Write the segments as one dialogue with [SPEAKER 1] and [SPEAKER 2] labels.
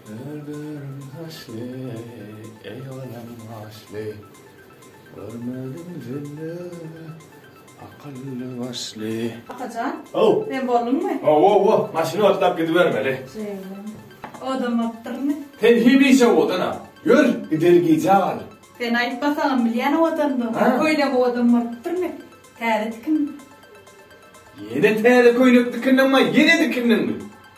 [SPEAKER 1] Öldürin haşly, eý olam haşly, Görmedim jelle, akylly başly. Akajan. Ow. Sen bolduňmy? Ow ow ow, maşyny otlap gidibermeli. Jeylan. Odamapdyrmy? Sen hemişe odana. Ýör, gideli gijä galar. Sen aýtmasaňam bilýän odandygyňy. Ha? Köýnegi odan bolupdyrmy? Täze tikinmi? Ýene täze köýnek dikindiňmi, ýene dikindiňmi?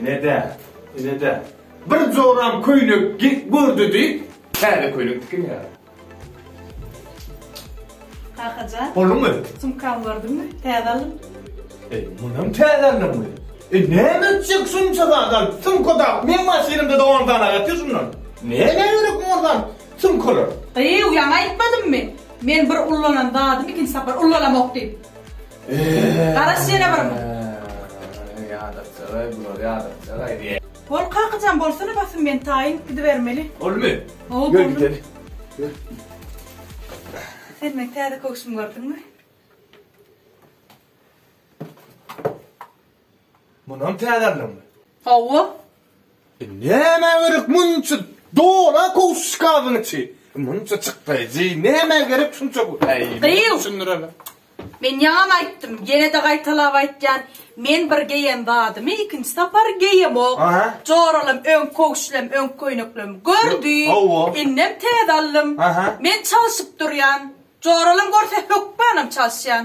[SPEAKER 1] Ine-dä, ine-dä, bir joram köýnek gek gördi diýip, täze köýnek tikinýär. Kakajan. Bolduňmy? Sumkamy gördüňmi? Täze aldym. E, munam täze aldyňmy? E, näme etjek şunça zat alyp? Sumka dagyp, meň maşynymda-da on sany aýatdy şundan. Nämä gerek muňa zat? Sumkalar. Gyýw, ýaňy aýtmadymmy? Men bir ullanan zadymy ikinji sapar ullalamok diýip. Garaş ýene bir mum. Ýadapjagaý bular ýadapjagaý diýä. Hol kakajan bolsana basym men taýyn gidibermeli. Bolmy? Hawa boldy. Ýör gideli. Ýör. Sen meň täze köwşümi gördüňmi? Munam täzäldimmi? Hawa. E nämä gerek munça dola kowsuşkazyň içi? Munça çykdaýjy nämä gerek şunça köp? Äý, Gyýw! düşündireli. Men ýaňam aýtdym, ýene-de gaýtalap aýtýan, men bir geýen zadymy ikinji sapar geýemok. Aha. Joralam öň kowşlem, öň köýneklem gördi, Hawa. indem täze aldym. Aha. Men çalşyp durýan. Joralam görse hökmanam çalşýan.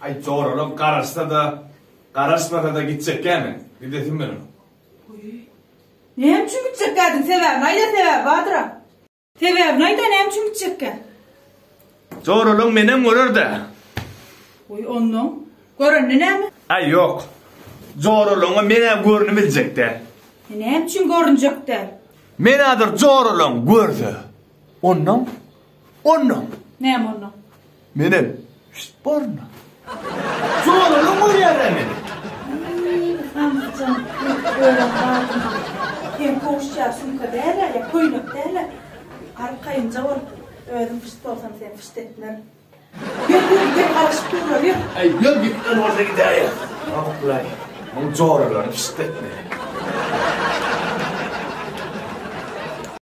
[SPEAKER 1] Aý joralam garaşsa-da, garaşmasa-da gitjekkämi? Gidesim meniň. Goýy. Näme üçin gitjekkädiň? Sebäbini aýda, sebäbi bardyr-a. Sebäbini aýda, näme üçin gitjekkä? Joralam menem görer-dä. Goý onnoň. Görende näme? Aý ýok. Joralaňa men-ä görnüp biljek däl. E näme üçin görünjek däl? Men-ä dur joralaň görse. Onnoň. Onda. Näme onda? Menem şit borna. Soralyň görýärä meni. Iý, Hamzyjan, köp öwren badyna. Seň kowuşja sumka däl-ä, ýa köýnek däl-ä. Garyp kaýynja bolup, özüň pyşt bolsaň, seni pyşt etmerin. Ýör, ýör, ýör, garyşyp durlar, ýör. Äý, ýör, gitmeli bolsa gidäýe. Ýok-laý, muň joralaryny pyşt etmeýär.